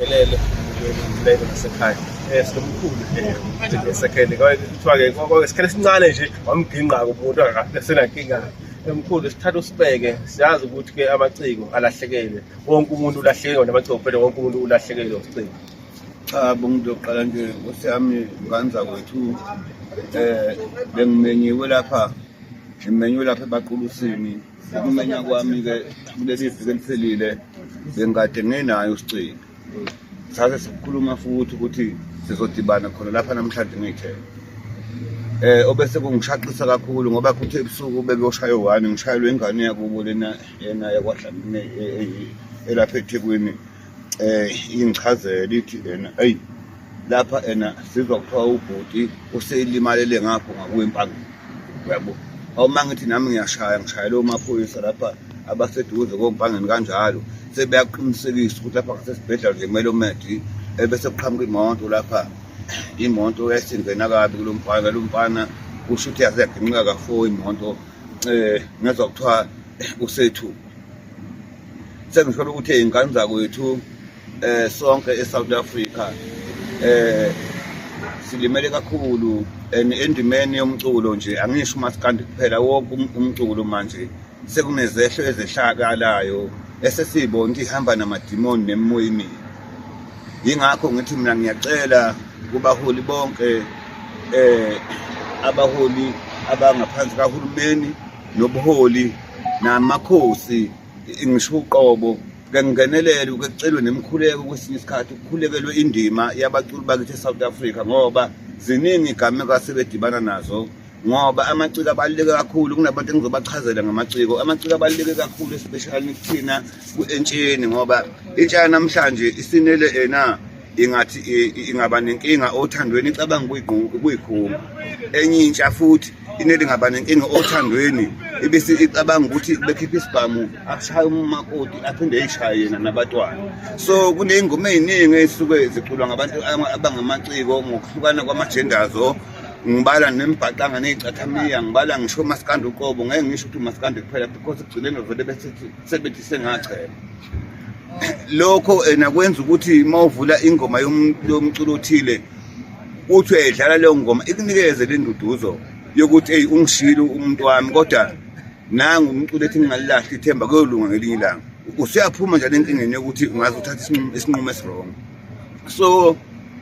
Elele umlelo nasekhaya eh sinomkhulu eh esekhele kwakuthiwa-ke kwakwesikhathi esincane nje wamgingqa-ke umuntu akasenankinga emkhulu sithatha usibeke siyazi ukuthi-ke amaciko alahlekele wonke umuntu ulahlekelwe namaciko phela wonke umuntu ulahlekelwe usiciko cha bungumuntu yokuqala nje nkosi yami nganza kwethu um eh, bengimenyiwe lapha ngimenyiwe lapha ebaqulusini Ukumenya kwami-ke kuleli viki eliphelile bengikade ngenayo usicingo sase sikhuluma futhi ukuthi sizodibana khona lapha namhlanje ngiyithele eh obese kungishaqisa kakhulu ngoba kuthe ebusuku bebeyoshaya one ngishayelwe ingane yakubo lena yena yakwadlamini e, e, e, elapha ethekwini eh ingichazela ithi ena hey lapha ena sizwa kuthiwa ubhuti useyilimalele ngapho ngakwempangeni yabo awuma ngithi nami ngiyashaya ngishayela omaphoyisa lapha abaseduze kompangeni kanjalo sebeyaqinisekisa ukuthi lapha ngasesibhedlela nje kumele umedi ebese kuqhamuka imoto lapha imoto yayisingena kabi kulo mfana lo mfana kusho ukuthi yaze yaginqika kafo imoto um ngezwa kuthiwa usethu sengithola ukuthi ey'ngane zakwethu um eh, sonke e-south africa um silimele kakhulu and endimeni yomculo nje angisho umasikandi kuphela wonke um-, umculo manje sekunezehlo ezehlakalayo esesiyibona ukuthi ihamba namadimoni nemimoya imibi yingakho ngithi mina ngiyacela kubaholi bonke eh abaholi abangaphansi kahulumeni nobuholi namakhosi ngisho uqobo kengingenelele uke kucelwe nemkhuleko kwesinye isikhathi ukukhulekelwe indima yabaculi bakithi e-south africa ngoba ziningi igameko asebedibana nazo ngoba amaciko abaluleke kakhulu kunabantu engizobachazela ngamaciko amaciko abaluleke kakhulu especially kuthina ku-entsheni ngoba intsha yanamhlanje isinele ena ingathi ingaba nenkinga othandweni icabanga ukuyikhumba enye intsha futhi ineli ngaba nenkinga othandweni ibese icabanga ukuthi bekhipha isibhamu akushaya umakoti aphinde eyishaye yena nabatwana so kuney'ngoma ey'ningi ey'suke ziculwa ngabantu abangamaciko ngokuhlukana kwamajendazo ngibala nembhaqanga ney'cathamiya ngibala ngisho umasikandi uqobo ngeke ngisho ukuthi umasikandi kuphela because ekugcineni vele bese sebethise ngachela lokho ena eh, kwenza ukuthi uma uvula ingoma yomculo othile uthi uyayidlala leyo ngoma ikunikeze le nduduzo yokuthi eyi ungishile umuntu wami kodwa nangu umculo ethi ngingalilahli ithemba kuyolunga ngelinye ilanga usuyaphuma njalo enkingeni yokuthi ungaze uthathe isinqumo esiwrong so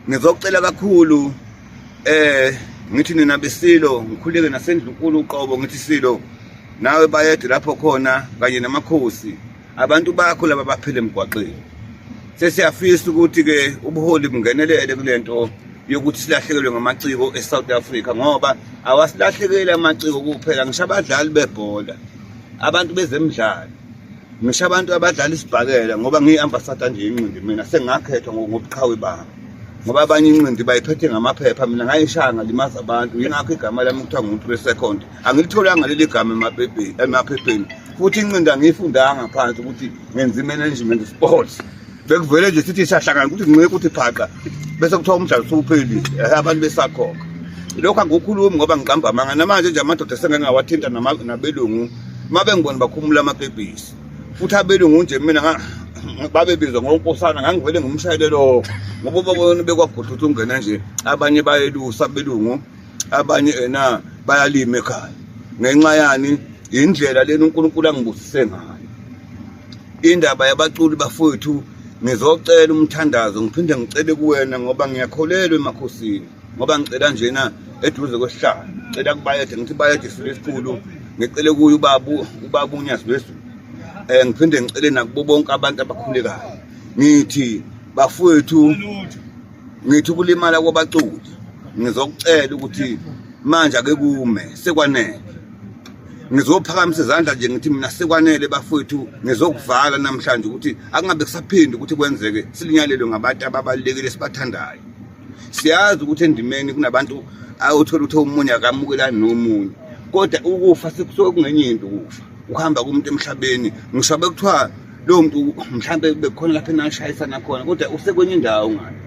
ngizocela kakhulu eh ngithi nina besilo ngikhuleke nasendlunkulu uqobo ngithi silo nawe bayede lapho khona kanye namakhosi abantu bakho laba baphile emgwaqeni sesiyafisa ukuthi-ke ubuholi bungenelele kule nto yokuthi silahlekelwe ngamaciko e-south africa ngoba awasilahlekeli amaciko kuphela ngisho abadlali bebhola abantu bezemidlalo ngisho abantu abadlala isibhakela ngoba ngiyi-ambasada nje inqindi mina sengakhethwa ngobuqhawe bami ngoba abanye inqindi bayiphethe ngamaphepha mina ngayishaya ngalimaza abantu yingakho igama lami kuthiwa ngumuntu we-second angilitholanga leli gama emaphepheni emaphepheni futhi incinda ngiyifundanga phansi ukuthi ngenza i-management sports bekuvele nje sithi siyahlangana ukuthi ngincike ukuthi phaqa bese kuthiwa umdlalo sewuphelile abantu besakhokha lokho angikhulumi ngoba ngiqamba amanga namanje nje amadoda esengeke ngawathinta nabelungu uma bengibona bakhumula amabhebhisi futhi abelungu nje mina babebizwa ngonkosana ngangivele ngimshayele lokho ngoba ubabona bekwagudlutha ungena nje abanye bayelusa belungu abanye ena bayalima ekhaya ngenxa yani indlela lena uNkulunkulu angibusise ngayo indaba yabaculi bafowethu ngizocela umthandazo ngiphinde ngicele kuwena ngoba ngiyakholelwa emakhosini ngoba ngicela njena eduze kwesihlalo ngicela kubayede ngithi bayede isilo esikhulu ngicele kuye ubabu ubabu unyazi lwezulu um eh, ngiphinde ngicele nakubo bonke abantu abakhulekayo ngithi bafowethu ngithi ukulimala kwabaculi ngizokucela ukuthi manje ake kume sekwanele ngizophakamisa izandla nje ngithi mina sekwanele bafowethu ngizokuvala namhlanje ukuthi akungabe kusaphindi ukuthi kwenzeke silinyalelwe ngabantu ababalulekile sibathandayo siyazi ukuthi endimeni kunabantu awuthola ukuthi omunye akamukelani nomunye kodwa ukufa sekusuke kungenye into ukufa ukuhamba kumuntu emhlabeni ngisho bekuthiwa lowo muntu mhlawumbe bekukhona lapho enashayisana khona kodwa usekwenye indawo ngani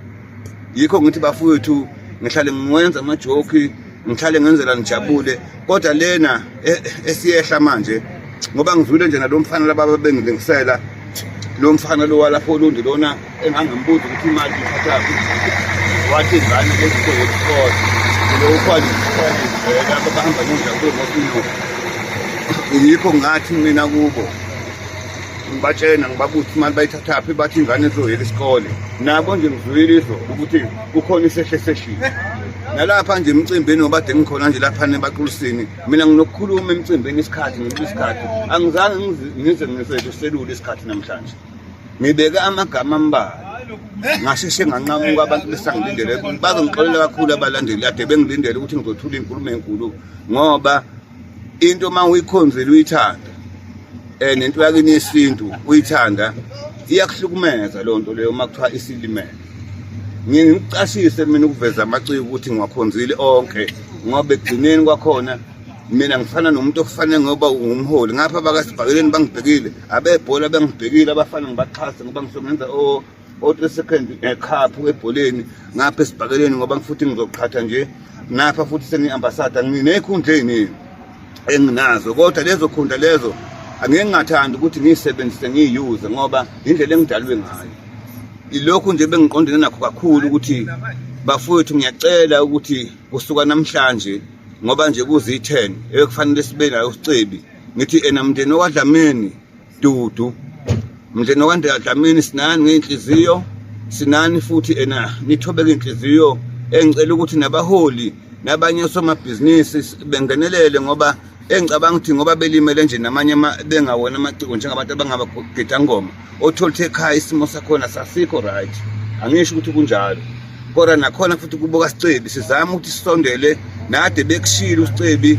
yikho ngithi bafowethu ngihlale ngiwenza amajoki ngihlale ngenzela ngijabule kodwa lena e, esiyehla manje ngoba ngizwile nje nalo mfana laba babengilingisela lo mfana lo walapho olundi lona engangimbuza ukuthi imali ithathaphi wathi ingane ezikho yesikole lokukhwalikhwalizela abahamba nendla kwemosinoo yikho ngathi mina kubo ngibatshena ngibabuthi imali bayithathaphi bathi ingane izoyela isikole nabo nje ngizwile izo ukuthi kukhona isehle seshile nalapha nje emcimbini obade ngikhona nje lapha nebaqulisini mina nginokukhuluma emcimbini isikhathi ngithi isikhathi angizange ngize ngiseselule isikhathi namhlanje ngibeke amagama ambalwa ngasheshe nganqamuka abantu besangilindele babe ngixolela kakhulu abalandeli ade bengilindele ukuthi ngizothula inkulumo enkulu ngoba into uma uyikhonzile uyithanda um nento yakini yesintu uyithanda iyakuhlukumeza loo nto leyo uma kuthiwa isilimele ngiye ngikucashise mina ukuveza amaciko ukuthi ngiwakhonzile onke ngoba ekugcineni kwakhona mina ngifana nomuntu okufanele ngoba ungumholi ngapha abakasibhakeleni bangibhekile abebhola bengibhekile abafana ngibaxhase ngoba ngisuke ngenza o-three second eh, cup ebholeni ngapha esibhakeleni ngoba futhi ngizoqhatha nje napha futhi sengiyi-ambasada nginey'khundla ey'ningi enginazo kodwa lezo khundla lezo angeke ngingathandi ukuthi ngiyisebenzise ngiyiyuze ngoba indlela engidalwe ngayo ilokhu nje bengiqondene nakho kakhulu ukuthi bafowethu ngiyacela ukuthi kusuka namhlanje ngoba nje kuzi-10 ebekufanele sibe nayo usicebi ngithi ena mndeni owadlamini dudu mndeni owadlamini sinani ngey'nhliziyo sinani futhi ena nithobeke iy'nhliziyo engicela ukuthi nabaholi nabanye osomabhizinisi bengenelele ngoba engicabanga ukuthi ngoba belimele nje namanye bengawona amaciko njengabantu abangabagida ngoma othola ukuthi ekhaya isimo sakhona sasikho right angisho ukuthi kunjalo kodwa nakhona futhi kubuka sicebi sizama ukuthi sisondele nade bekushile usicebi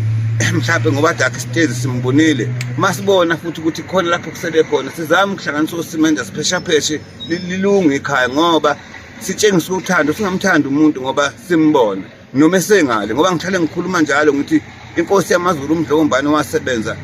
mhlawumbe ngoba dakhe sitezi simbonile masibona futhi ukuthi khona lapho kusele khona sizama ukuhlanganisa usimenda sipheshapheshe lilunge ikhaya ngoba sitshengisa uthando singamthandi umuntu ngoba simbona noma esengale ngoba ngihlale ngikhuluma njalo ngithi inkosi yamazulu umdlokombane wasebenza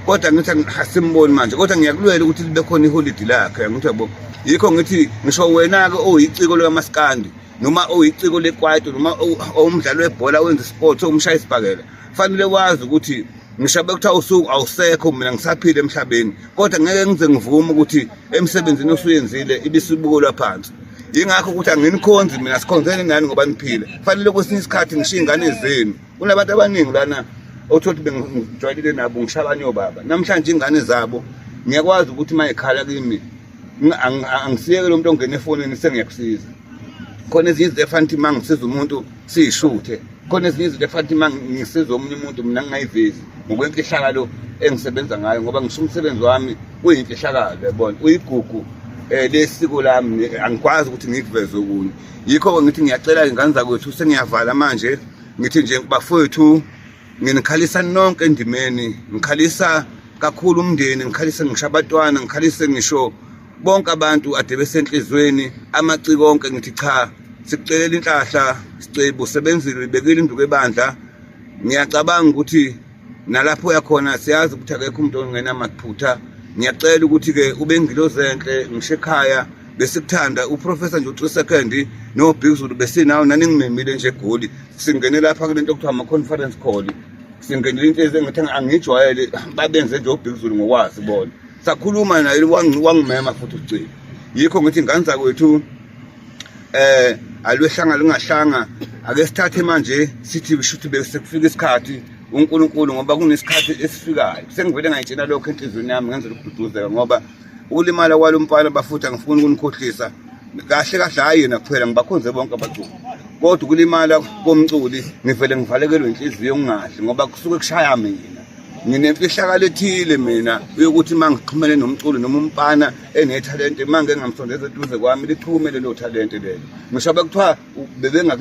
kodwa ngithi asimboni manje kodwa ngiyakulwela ukuthi libe khona iholidi lakhe ngithi yabo yikho ngithi ngisho wena-ke owuyiciko lukamasikandi noma owuyiciko lekwaito noma owumdlali webhola wenza isport owumshaya isibhakela kufanele wazi ukuthi ngishabe kuthiwa usuku awusekho mina ngisaphile emhlabeni kodwa ngeke ngize ngivume ukuthi emsebenzini osuyenzile ibisibukelwa phansi yingakho ukuthi anginikhonzi mina sikhonzeni nani ngoba niphile kufanele kwesinye isikhathi ngishiye ingane zenu kunabantu abaningi lana othothi bengijwayelile nabo ngishabanye obaba namhlanje ingane zabo ngiyakwazi ukuthi uma ikhala kimi angisiyeke lo muntu ongena efonini sengiyakusiza khona ezinye izinto efana ukuthi uma ngisiza umuntu siyishuthe khona ezinye izinto efana ukuthi uma ngisiza omunye umuntu mina ngingayivezi ngokwemfihlakalo engisebenza ngayo ngoba ngisho umsebenzi wami uyimfihlakalo yabona uyigugu um lesiko lami angikwazi ukuthi ngikuveze okunye yikho-ke ngithi ngiyacela-ke ngane zakwethu sengiyavala manje ngithi nje bafowethu nginikhalisa nonke endimeni ngikhalisa kakhulu umndeni ngikhalise ngisho abatwana ngikhalise ngisho bonke abantu ade besenhlizweni amaciko onke ngithi cha sikucelela inhlahla sicebo sebenzile ibekile induku ebandla ngiyacabanga ukuthi nalapho uyakhona siyazi ukuthi akekho umuntu ongena makuphutha ngiyacela ukuthi-ke ube ngilozi enhle ngisho ekhaya besikuthanda uprofessor nje u-three second no-big zulu besinawo naningimemile nje egoli singene lapha kule nto okuthiwa ama-conference call singenela into ezengathi angiyijwayele babenze nje obhekuzulu ngokwazi bona sakhuluma naye wangimema futhi ucile yikho ngithi ngane zakwethu eh alwehlanga lungahlanga ake sithathe manje sithi shuthi besekufika isikhathi uNkulunkulu ngoba kunesikhathi esifikayo sengivele ngayitshela lokho enhlizweni yami ngenzela ukududuzeka ngoba ulimala kwalo mfana bafuthi angifuni ukunikhohlisa kahle kahle hhayi yena kuphela ngibakhonze bonke abaculi kodwa ukulimala komculi ngivele ngivalekelwe inhliziyo ngingadli ngoba kusuke kushaya mina nginemfihlakalo ethile mina yokuthi uma ngixhumene nomculi noma umfana enethalente uma ngengamsondeza eduze kwami liphume lelo thalente lelo ngisho bekuthiwa bebengaku